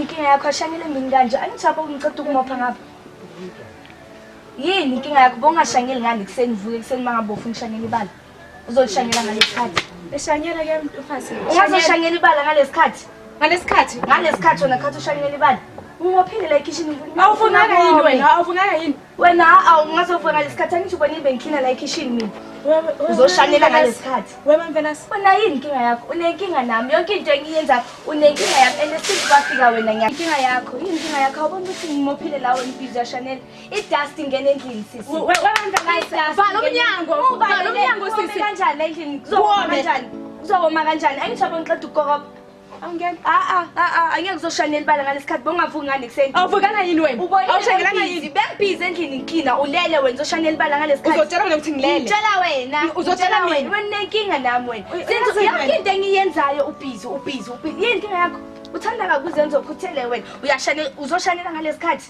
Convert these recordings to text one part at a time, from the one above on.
inkinga yakho ashanyele mini kanje angithi apho ngiceda ukumopha ngapha yini inkinga yakho bongashanyeli ngani kuseni vuke kuseni mangabofu ngishanyela ibala Uzoshanyela ngalesikhathi. Eshanyela ke mfazi. Ungazoshanyela ibala ngalesikhathi. Ngalesikhathi. Ngalesikhathi wena khathi ushanyela ibala. Ungophile la ekhishini ngifuna. Awufunanga yini wena? Awufunanga yini? Wena awungazovuka ngalesikhathi angisho ubona ibe ngikhina la ekhishini mina. Uzoshanyela ngalesikhathi. Wema mfana. Wena yini inkinga yakho? Unenkinga nami. Yonke into engiyenza unenkinga yami and esithi kwafika wena ngiya. Inkinga yakho. Yini inkinga yakho? Awubona ukuthi ngimophile la wena impilo yashanela. idust ingena endlini sisi We- we- webandla la idust Vala umnyango, vala umnyango, sisi. kanjani la endlini kuzokoma Kuwome. kanjani kuzokoma kanjani angisho yabo ngiqeda ukukoroba awungena a-a a-a angeke uzoshayela elibala ngalesi khathi bongavuki ngani kuseni awuvukanga yini wena awushakelanga awushakelanga yini bengibhizi endlini ngiklina ulele wena uzoshayela elibala ngalesi khathi uzotshela mina ukuthi ngilele ngitshela wena Uzotshela Ngitshela wena mina. wena unenkinga nami wena Uy- Since uyazi yonke wena. into engiyenzayo ubhizi ubhizi ubhizi yini inkinga yakho uthanda kakuzenza ukhuthele wena uyashane uzoshanela ngalesi khathi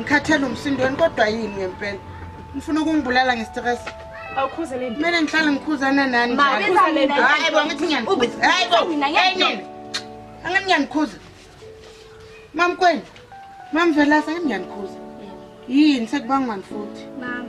ngikhathele umsindweni kodwa yini ngempela ngifuna ukungibulala ngestress kumele ngihlale ngikhuzana nani hayi bo ngithi ngiyanikhuza hayi bo hayi nini angathi ngiyanikhuza mamkwenu mamvelasa ngiyanikhuza yini sekubangwani futhi mama